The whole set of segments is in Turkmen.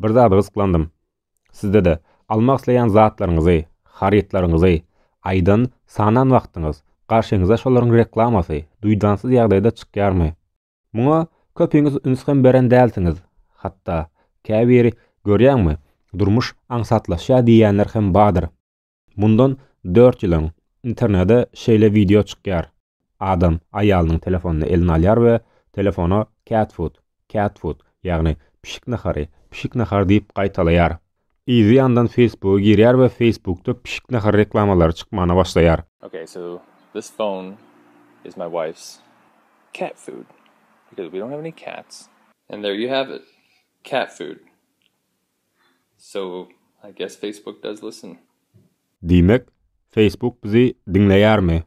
Bir zady gyzyklandym. Sizde-de, almak isleýän zatlaryňyzy, harytlaryňyzy, aýdan, sanan wagtyňyz, garşyňyza şolaryň reklamasy, duýdansyz ýagdaýda çykýarmy? Muňa, köpiňiz üns hem beren dälsiňiz. Hatda, käbiri, görýäňmi, durmuş aňsatlaşýar diýýänler hem bardyr. Mundan dört ýyl öň internede şeýle wideo çykýar, Adam aýalynyň telefonyny eline alýar we telefona Cat food, cat food, ýagny pişik nahary, pişik nahary diýip gaýtalaýar. Yzy ýandan Facebooka girýär we Facebookda pişik nahary reklamalary çykmana başlaýar. Okay so this phone is my wife's cat food because we don't have any cats. And there you have it, cat food. So I guess Facebook does listen. Diýmek, Facebook bizi diňleýärmi?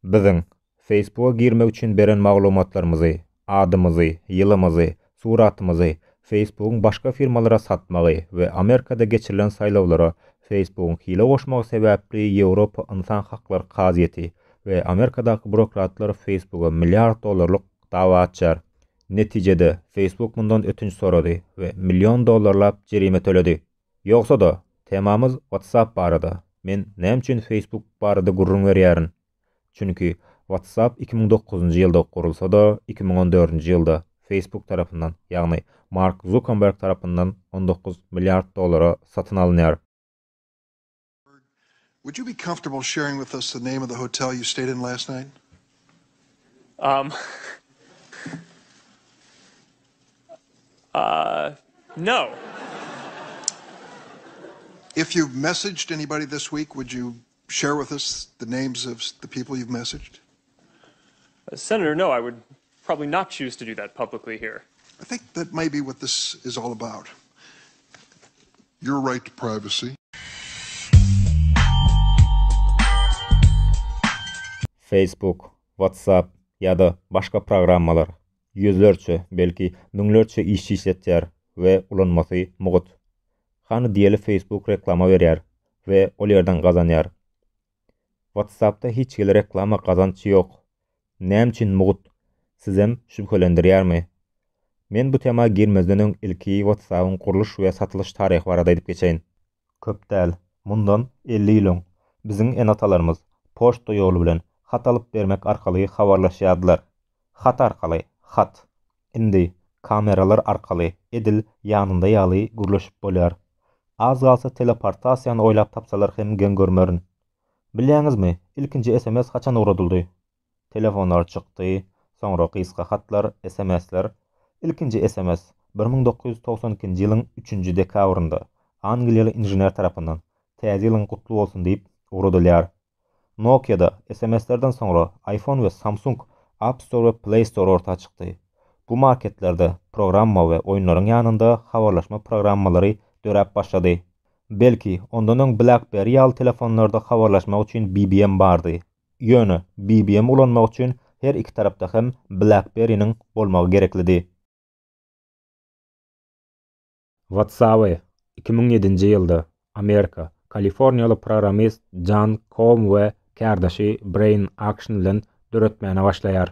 Biziň, Facebook-a girmek üçin beren maglumatlarymyzy, adymyzy, ýylymyzy, Suratymyzy Facebookyň başga firmalara satmagy we Amerikada geçirilen saýlawlara Facebookyň hile goşmagy sebäpli Ýewropa ynsan haklary kazyýeti we Amerikadaky burokratlar Facebooka milliard dollarlyk dawa açýar. Netijede, Facebook mundan ötünç sorady we million dollarlap jerime töledi. Ýogsa-da, temamyz WhatsApp barada. Men näme üçin Facebook barada gürrüň berýärin? Çünki, WhatsApp iki müň dokuzynjy ýylda gurulsa-da, iki müň on dördünji ýylda Facebook tarapyndan, ýagny Mark Zuckerberg tarapyndan on dokuz milliard dollara satyn alynýar. Would you be comfortable sharing with us the name of the hotel you stayed in last night? Um, uh, no. If you've messaged anybody this week, would you Share with us the names of the people you've messaged. Senator, no, I would probably not choose to do that publicly here. I think that may be what this is all about. Your right to privacy. Facebook, WhatsApp ýa-da başga programmalar ýüzlerçe, belki müňlerçe işçi işletýär we ulanmasy mugt. Hany diýeli Facebook reklama berýär we ol ýerden gazanýar. Whatsappda hiç hili reklama gazanç ýok. Näme üçin mugt? Sizem şübhelendirýärmi? Men bu tema girmezden öň ilki Whatsappyň gurluş we satylyş taryhy barada aýdyp geçeýin. Köp däl, mundan elli ýyl öň biziň ene-atalarymyz poçta ýoly bilen hat alyp bermek arkaly habarlaşýardylar. Hat arkaly, hat. Indi, kameralar arkaly, edil ýanynda ýaly gürleşip bolýar. Az galsa teleportasiýany oýlap tapsalar hem geň görmerin. Bilýäňizmi, ilkinji sms haçan ugradyldy? Telefonlar çykdy, soňra gysga hatlar, sms-ler. Ilkinji sms, bir müň dokuz ýüz togsan ikinji ýylyň üçünji dekabrynda, angliýaly inžener tarapyndan, Täze ýylyň gutly bolsun diýip, ugradylýar. Nokia-da SMS-lerden soňra iPhone we Samsung App Store we Play Store orta çykdy. Bu marketlerde programma we oýunlaryň ýanynda habarlaşma programmalary döräp başlady. Belki, ondan öň BlackBerry ýaly telefonlarda habarlaşmak üçin BBM bardy. Ýöne, BBM ulanmak üçin her iki tarapda hem BlackBerry-niň bolmagy gereklidi. WhatsApp-y iki müň ýedinji ýylda Amerika, kaliforniýaly programist Jan Koum we kärdeşi Breýn Akşn bilen döretmäne başlaýar.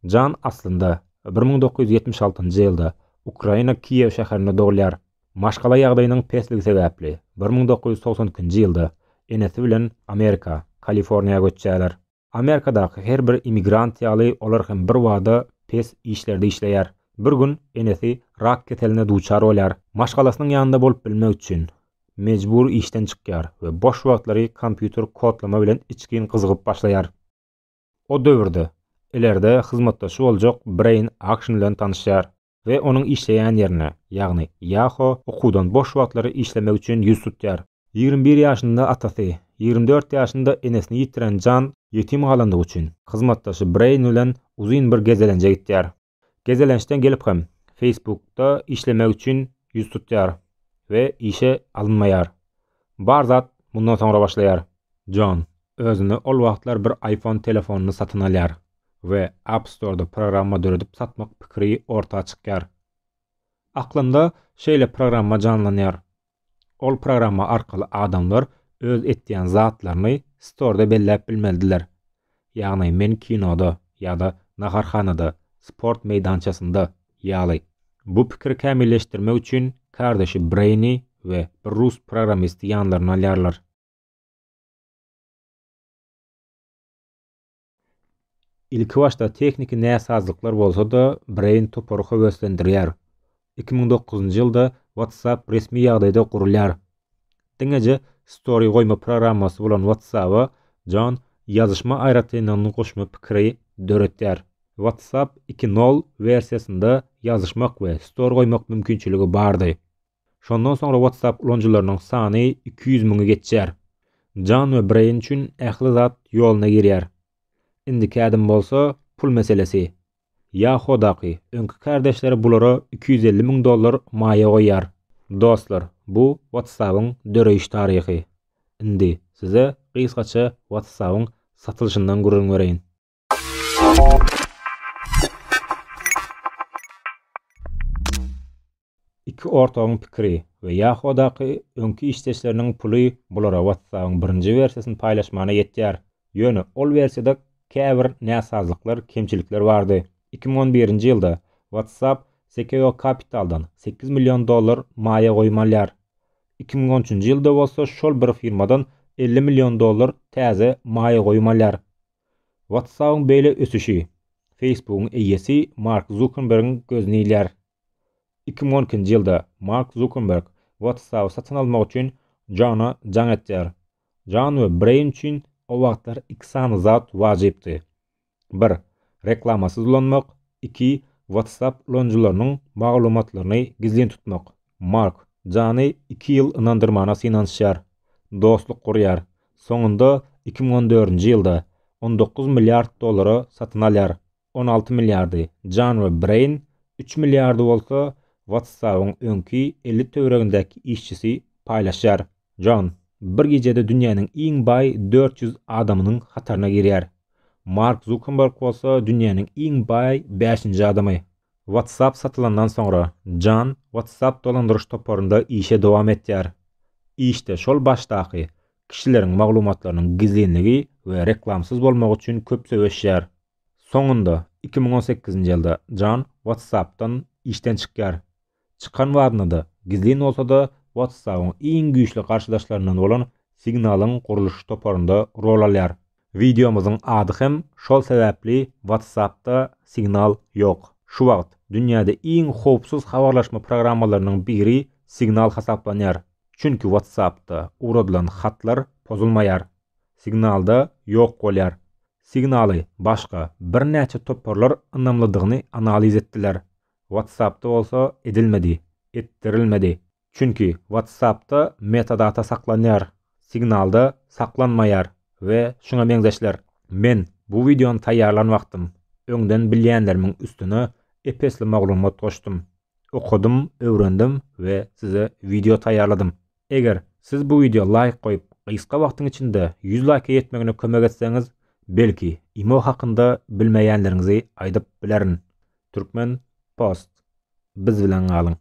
Jan aslynda, bir müň dokuz ýüz ýetmiş altynjy ýylda Ukraina Kiýew şäherinde dogulýar. Maşgala ýagdaýynyň pesligi sebäpli, bir müň dokuz ýüz togsan ikinji ýylda enesi bilen Amerika, Kaliforniýa göçýärler. Amerikadaky her bir immigrant ýaly olar hem birbada pes işlerde işleýär. Bir gün enesi rak keseline duçar bolýar. Maşgalasynyň ýanynda bolup bilmek üçin, mejbur işden çykýar we boş wagtlary kompýuter kodlama bilen içgin gyzygyp başlaýar. O döwürde, ileride hyzmatdaşy boljak Braýn Akşin bilen tanyşýar. we onuň işleýän ýerine, ýagny Ýaho okuwdan boş wagtlary işlemek üçin ýüz tutýar. Ýigrimi bir ýaşynda atasy, ýigrimi dört ýaşynda enesini ýitiren Jan ýetim galandygy üçin, hyzmatdaşy Breýn bilen uzyn bir gezelenje gitýär. Gezelençden gelip hem, Facebook-da işlemek üçin ýüz tutýar we işe alynmaýar. Bar zat mundan soňra başlaýar. Jon, özüne ol wagtlar bir iPhone telefonyny satyn alýar. we App Store-da programma döredip satmak pikiri orta çykýar. Aklymda şeýle programma janlanýar. Ol programma arkaly adamlar öz etýän zatlaryny Store-da belläp bilmelidiler. Ýagny men kinoda ýa-da naharhanada, sport meýdançasynda ýaly. Bu pikiri kämilleşdirmek üçin kardeşi Brainy we bir rus programmisti ýanlaryna alýarlar. Ilki başda tehniki näsazlyklar bolsa-da, Brain topary höweslendirýär. Iki müň dokuzynjy ýylda WhatsApp resmi ýagdaýda gurulýar. Diňeje Story goýma programmasy bolan WhatsApp-a John ýazyşma aýratynlygyny goşma pikiri döretýär. WhatsApp iki nol wersiýasynda ýazyşmak we story goýmak mümkinçiligi bardy. Şondan soňra WhatsApp ulanyjylarynyň sany iki ýüz müňi geçýär. Jan we Breýn üçin ähli zat ýoluna girýär. Indiki ädim bolsa, pul meselesi. Yahoo-daky öňki kärdeşleri bulara iki ýüz elli müň dollar maýa goýýar. Dostlar, bu WhatsApp-yň döreýiş taryhy. Indi size gysgaça WhatsApp-yň satylyşyndan gürrüň bereýin. Iki ortagyň pikiri we Yahoo-daky öňki işdeşleriniň puly bulara WhatsApp-yň birinji wersiýasyny paýlaşmana ýetýär. Ýöne ol wersiýada käbir näsazlyklar, kemçilikler bardy. Iki müň on birinji ýylda WhatsApp Sequoia Capital-dan sekiz million dollar maýa goýum alýar. Iki müň on üçünji ýylda bolsa şol bir firmadan elli million dollar täze maýa goýum alýar. WhatsApp-yň beýle ösüşi Facebook-yň eýesi Mark Zukerbergiň gözüni ilýär. Iki müň on ikinji ýylda Mark Zukerberg WhatsApp-y satyn almak üçin Jona jaň etýär. Jon we Breýn üçin o wagtlar iki sany zat wajypdy. Bir, reklamasyz ulanmak, iki, WhatsApp ulanyjylarynyň maglumatlaryny gizlin tutmak. Mark Jony iki ýyl ynandyrmana synanyşýar, dostluk gurýar, Soňunda iki müň on dördünji ýylda on dokuz milliard dollara satyn alýar, on alty milliardy Jan we Breýn, üç milliardy bolsa WhatsApp-yň öňki elli töweregindäki işçisi paýlaşýar. Jan bir gijede dünýäniň iň baý dört ýüz adamynyň hataryna girýär. Mark Zukenberg bolsa dünýäniň iň baý bäşinji adamy. WhatsApp satylandan soňra, Jan WhatsApp dolandyryş toparynda işe dowam etýär. Işde şol başdaky, kişileriň maglumatlarynyň gizlinligi we reklamsyz bolmagy üçin köp söweşýär. Soňunda, iki müň on sekizinji ýylda Jan WhatsApp-dan işden çykýar. Çykan wagtynda-da, gizlin bolsa-da WhatsApp-yň iň güýçli garşydaşlaryndan bolan Signal-yň gurluş toparynda rol alýar. Wideomyzyň ady hem şol sebäpli WhatsApp-da Signal ýok. Şu wagt dünýäde iň howpsuz habarlaşma programmalarynyň biri Signal hasaplanýar. Çünki WhatsApp-da ugradylan hatlar pozulmaýar. Signal-da ýok bolýar. Signal-y başga birnäçe toparlar ynamlydygyny analiz etdiler. WhatsApp-da bolsa edilmedi, etdirilmedi. Çünki WhatsApp-da metadata saklanýar, Signal-da saklanmaýar we şuňa meňzeşler. Men bu wideony taýýarlan wagtym, öňden bilýänlerimiň üstüne ep-esli maglumat goşdum. Okadym, öwrendim we size wideo taýýarladym. Eger siz bu wideo laýk goýup gysga wagtyň içinde ýüz laýka ýetmegine kömek etseňiz belki imo hakynda bilmeýänleriňizi aýdyp bilerin Türkmen post biz bilen galyň.